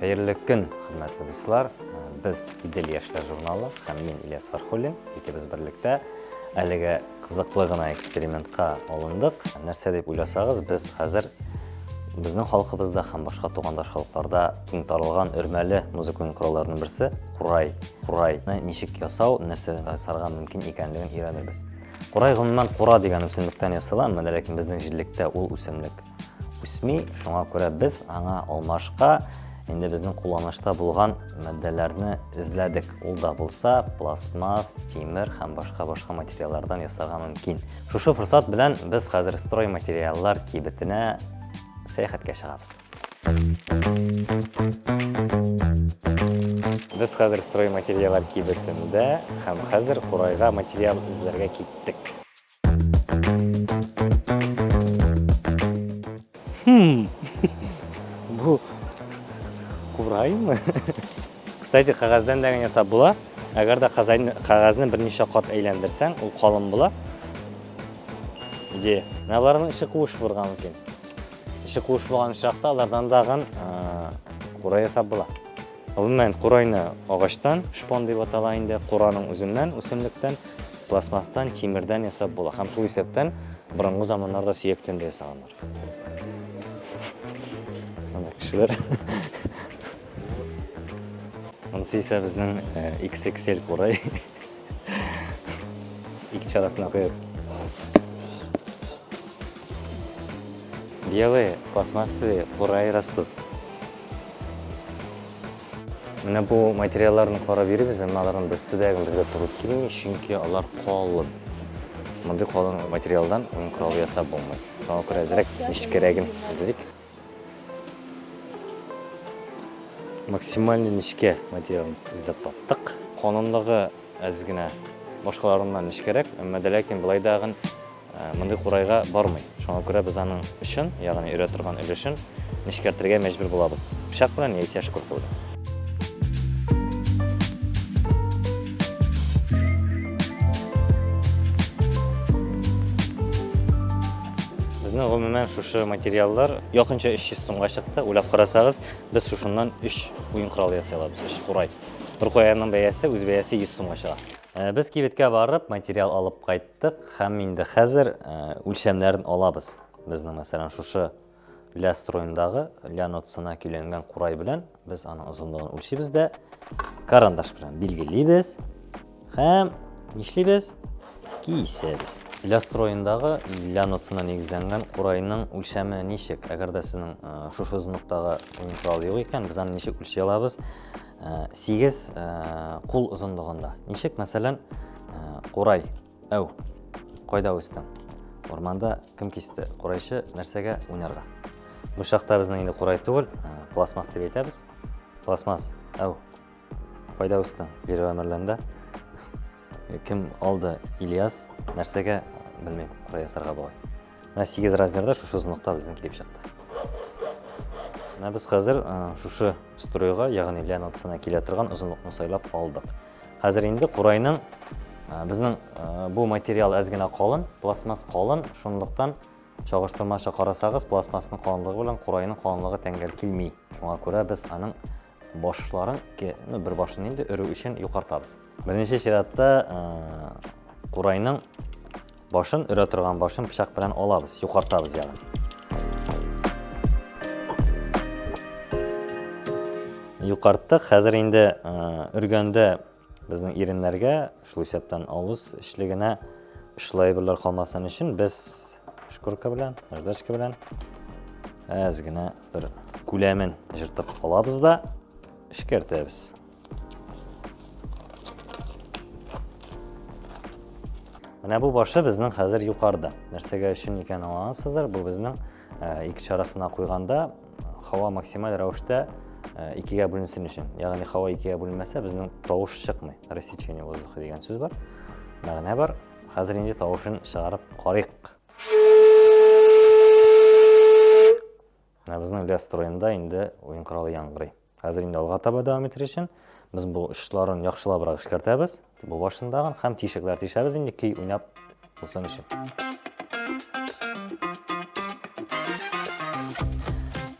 Хәерле көн, хөрмәтле дуслар. Без Идел яшьләр журналы һәм мин Ильяс Фархуллин. Икебез берлектә әлеге кызыклы гына экспериментка алындык. Нәрсә дип уйласагыз, без хәзер безнең халкыбызда һәм башка тугандаш халыкларда киң таралган өрмәле музыка уен коралларының берсе курай. Курайны ничек ясау, нәрсә ясарга мөмкин икәнлеген өйрәнербез. Курай гомумән кура дигән үсемлектән ясала, әмма ләкин безнең җирлектә ул үсемлек үсми, шуңа күрә без аңа алмашка инде безнең кулланышта булган матдәләрне эзләдек. Ул да булса пластмасс, тимер һәм башка башка материаллардан ясарга мөмкин. Шушы форсат белән без хәзер строй материаллар кибетенә сәяхәткә чыгабыз. Без хәзер строй материаллар кибетендә һәм хәзер курайга материал эзләргә киттек. Хм. Бу кураймы? Кстати, кагаздан да генә сап була. Әгәр дә кагазны берничә кат әйләндерсәң, ул калын була. Иде. Менә аларның эче куыш булырга мөмкин. Эче куыш булган чакта алардан дагын курай ясап була. Гомумән, курайны агачтан, шпон дип атала инде, кураның үзеннән, үсемлектән, пластмасстан, тимердән ясап була һәм шул исәптән борынгы заманнарда сөяктән дә ясаганнар. Ана кешеләр. Анысы исә безнең XXL курай. Ике чарасына куеп. Белые пластмассовые курай растут. Менә бу материалларны карап йөрибез, әмма аларның берсе дә безгә туры килми, чөнки алар калын. Мондый калын материалдан уен коралы ясап булмый. Шуңа күрә әзрәк нечкәрәген әзерик. Максимальный нечкә материалын эзләп таптык. Канунлыгы әз генә башкаларыннан нечкәрәк, әмма дә ләкин былай да гын э, мондый курайга бармый. Шуңа күрә без аның өчен, ягъни өрә торган өлешен нечкәртергә мәҗбүр булабыз. Пычак белән яисә шкурка белән. Безнең гомумән шушы материаллар якынча 300 сумга чыкты. Уйлап карасагыз, без шушыннан 3 уен коралы ясый алабыз, 3 курай. Бер куяның бәясе, үз бәясе 100 сумга чыга. Э, без кибеткә барып, материал алып кайттык һәм инде хәзер э, үлчәмнәрен алабыз. Безнең мәсәлән шушы Ля строендагы ля нотасына көйләнгән курай белән без аның озынлыгын үлчибез дә карандаш белән билгелибез һәм нишлибез? Кисәбез. Ля строендагы ля нотасына нигезләнгән курайның үлчәме ничек? Әгәр дә сезнең э, шушы озынлыктагы уен коралы юк икән, без аны ничек үлчи алабыз? 8 э, э, кул озынлыгында. Ничек, мәсәлән, курай Әу, кайда үстең? Урманда кем кисте? Курайчы нәрсәгә уйнарга? Бу чакта безнең инде курай түгел, ә, пластмасс дип әйтәбез. Пластмасс, әу, кайда үстең? Бирү әмерләндә. Кем алды? Ильяс, нәрсәгә белмим, курай ясарга бугай. Менә 8 размерда шушы озынлыкта безнең килеп чыкты. Менә без хәзер э, шушы стройга, ягъни ляминациясенә килә торган озынлыкны сайлап алдык. Хәзер инде курайның э, безнең э, бу материал әз генә калын, пластмасс калын, шунлыктан чагыштырмача карасагыз, пластмассның калынлыгы белән курайның калынлыгы тәңгәл килми. Шуңа күрә без аның башларын ике, ну, бер башын инде өрү өчен юкартабыз. Беренче чиратта курайның башын өрә торган башын пычак белән алабыз, юкартабыз ягын. Юкарттык, хәзер инде өргәндә Безнең иреннәргә, шул исәптән авыз эчлегенә очлы әйберләр калмасын өчен без шкурка белән, наждачка белән әз генә бер күләмен җыртып алабыз да эшкәртәбез. Менә бу башы безнең хәзер юқарда. Нәрсәгә өчен икән аңлансыздыр, бу безнең Ике чарасына куйганда, һава максималь рәвештә икегә бүленсен өчен. Ягъни һава икегә бүленмәсә, безнең тавыш чыкмый. Рассечение воздуха дигән сүз бар. Мәгънә бар. Хәзер инде тавышын чыгарып карыйк. Ә безнең лес строенда инде уен коралы яңгырый. Хәзер инде алга таба дәвам итер өчен без бу очларын яхшылабрак эшкәртәбез. Бу башындагын һәм тишекләр тишәбез инде көй уйнап булсын өчен.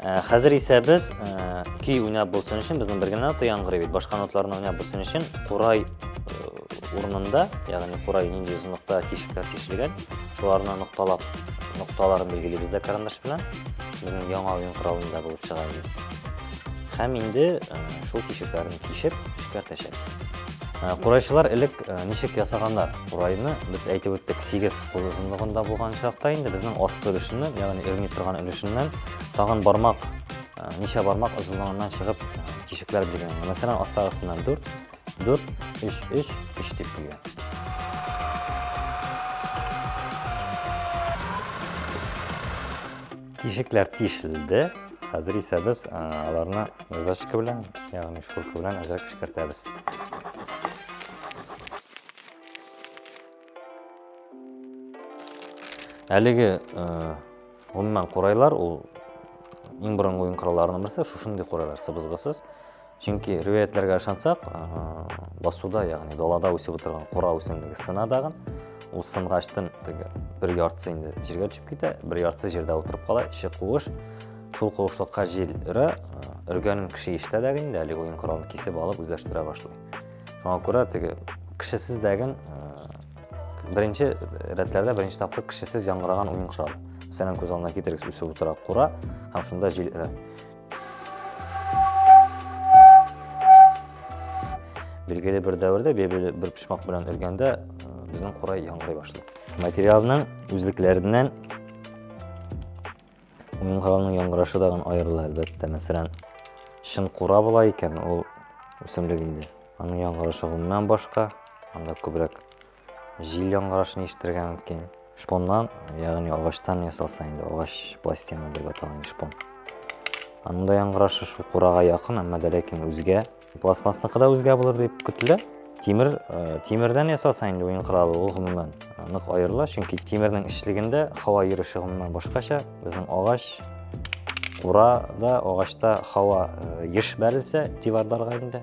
Э, хәзер исә без э, көй уйнап булсын өчен безнең бер генә нота яңгырый бит. Башка ноталарны уйнап булсын өчен курай э, урынында, ягъни курай нинди озынлыкта тишекләр тишелгән, шуларны нокталап, нокталарын билгелибез дә карандаш белән. Безнең яңа уен коралында булып чыга инде. Һәм инде шул тишекләрне тишеп эшкәртәчәкбез. Курайчылар элек ничек ясаганнар? Курайны без әйтеп үттек, 8 кул озынлыгында булган чакта инде безнең аскы өлешеннән, ягъни өрми торган өлешеннән тагын бармак, ничә бармак озынлыгыннан чыгып тишекләр биргән. Мәсәлән, астагысыннан 4, 4, 3, 3, 3 дип килгән. Тишекләр тишелде. Хәзер исә без аларны наждачка белән, ягъни шкурка белән әзрәк пешкертәбез. Әлеге гомумән курайлар ул иң борынгы уен коралларының берсе, шушындый курайлар сыбызгысыз. Чөнки ривәятләргә ышансак, басуда, ягъни далада үсеп утырган кура үсемлеге сына дагын. Ул сынгачтын теге бер яртысы инде җиргә төшеп китә, бер яртысы җирдә утырып кала, эче куыш. Шул куышлыкка җил өрә, өргәнен кеше ишетә дә инде, әле уен коралын кисеп алып үзләштерә башлый. Шуңа күрә теге кешесез дәген беренче рәтләрдә беренче тапкыр кешесез яңгыраган уен коралы. Мәсәлән, күз алдына китерегез, үсеп утыра кура һәм шунда җил өрә. Билгеле бер дәвердә бебеле бер пишмак белән өргәндә безнең курай яңгырый башлады. Материалның үзлекләреннән уңганның яңгырашы да гын аерыла әлбәттә. Мәсәлән, чын кура була икән, ул үсемлек инде. Аның яңгырашы гомумән башка, анда күбрәк Җил яңгырашын ишетергә мөмкин. Шпоннан, ягъни агачтан ясалса инде, агач пластина дип аталган шпон. Анда яңгырашы шул курага якын, әмма дә ләкин үзгә. Пластмассныкы да үзгә булыр дип көтелә. Тимер, э, тимердән ясалса инде уен коралы, ул гомумән э, нык аерыла, чөнки тимернең эчлегендә һава йөреше гомумән башкача. Безнең агач, курада, агачта һава э, еш бәрелсә, диварларга инде,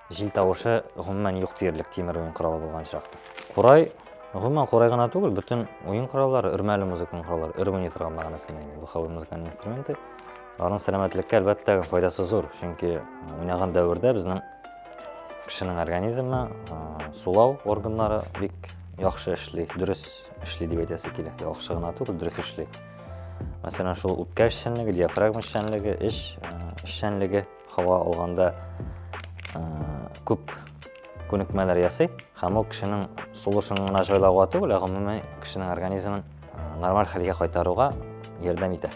Җил тавышы гомумән юк диярлек тимер уен коралы булган очракта. Курай, гомумән курай гына түгел, бөтен уен кораллары, өрмәле музыканың кораллары, өрү ни торган мәгънәсендә инде. Бу хәвер музыканың инструменты. Аның сәламәтлеккә әлбәттә файдасы зур, чөнки уйнаган дәвердә безнең кешенең организмы, сулау органнары бик яхшы эшли, дөрес эшли дип әйтәсе килә. Яхшы гына түгел, дөрес эшли. Мәсәлән, шул үпкә эшчәнлеге, диафрагма эшчәнлеге, эш эшчәнлеге, һава алганда күп күнекмәләр ясый һәм ул кешенең сулышын гына җайлауга түгел, ә гомумән кешенең организмын нормаль хәлгә кайтаруга ярдәм итә.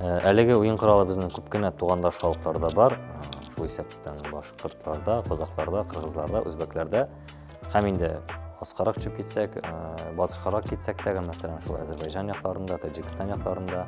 Әлеге уен коралы безнең күп кенә тугандаш халыкларда бар, шул исәптән башкортларда, казакларда, кыргызларда, үзбәкләрдә һәм инде аскарак төшеп китсәк, батышкарак китсәк тәгә, мәсәлән, шул Әзербайҗан якларында, Таҗикстан якларында,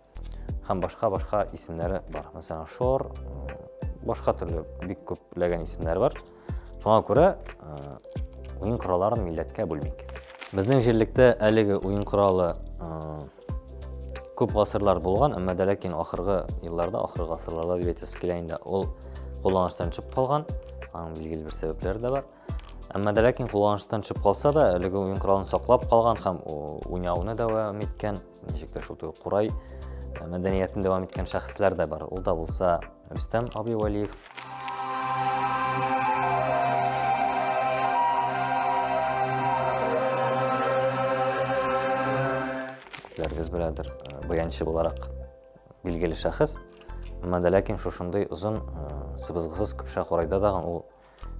Һәм башка-башка исемнәре бар. Мәсәлән, Шор, башка төрле бик күпләгән исемнәр бар. Шуңа күрә уен коралларын милләткә бүлмик. Безнең җирлектә әлеге уен коралы күп гасырлар булган, әмма дә ләкин ахыргы елларда, ахыргы гасырларда дип әйтәсе килә инде, ул кулланыштан төшеп калган, аның билгеле бер сәбәпләре дә бар. Әмма дә ләкин кулланыштан төшеп калса да, әлеге уен коралын саклап калган һәм уйнауны дәвам иткән ничек тә шул теге курай э, мәдәниятен дәвам иткән шәхесләр дә бар ул да булса рөстәм абый вәлиев күпләрегез беләдер э, баянчы буларак билгеле шәхес әмма дә ләкин шушындый озын э, сыбызгысыз көпшә курайда дагы ул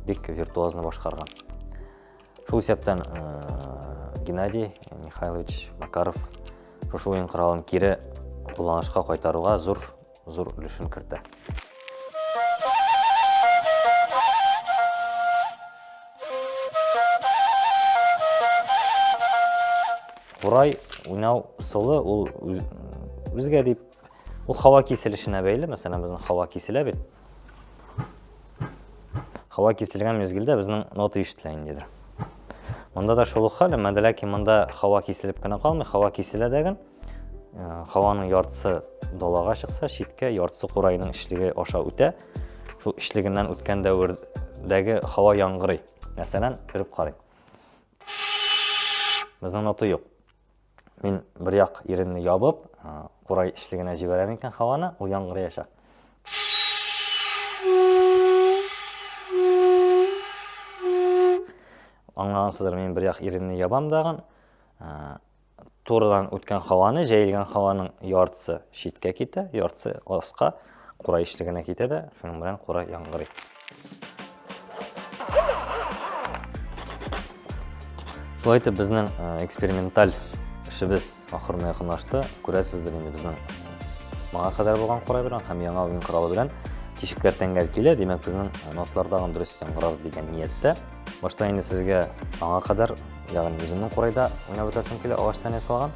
бик виртуозно башкарган шул исәптән э, геннадий михайлович макаров шушы уен коралын кире кулланышка кайтаруга зур зур өлешен кертә Урай уйнау солы ул үзгә дип Ул һава киселешенә бәйле, мәсәлән, безнең һава киселә бит. Һава киселгән мезгелдә безнең нота ишетелә индидер. Монда да шул ук хәл, әмма ләкин монда һава киселеп кенә калмый, һава киселә дәген. Һаваның яртысы далага чыкса, читкә яртысы курайның ишлеге аша үтә. Шул ишлегеннән үткән дәвердәге һава яңгырый. Мәсәлән, күреп карыйк. Безнең нота юк. мин бер як иренне ябып курай эчлегенә җибәрәм икән һаваны ул яңгыраячак аңлагансыздыр мин бер як иренне ябам дагын турыдан үткән һаваны җәелгән һаваның яртысы читкә китә яртысы аска Кура ишле генә китә дә, шуның белән кура яңгырый. Шулай итеп безнең эксперименталь эшебез ахырына якынлашты. Күрәсездер инде безнең моңа кадәр булган кура белән һәм яңа уен коралы белән тишекләр тәңгәл килә, димәк безнең нотлар тагын дөрес яңгырар дигән нияттә. Башта инде сезгә аңа кадәр, ягъни үземнең курайда уйнап үтәсем килә, агачтан ясалган.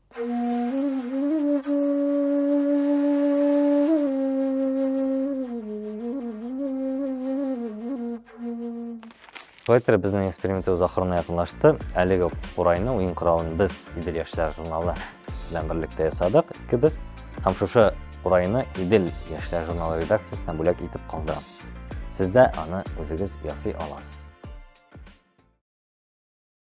Поэтер безнең экспериментыбыз ахырына якынлашты. Әлеге курайны уен коралын без Идел яшьләр журналы белән берлектә ясадык. Икебез һәм шушы курайны Идел яшьләр журналы редакциясенә бүләк итеп калдырам. Сез дә аны үзегез ясый аласыз.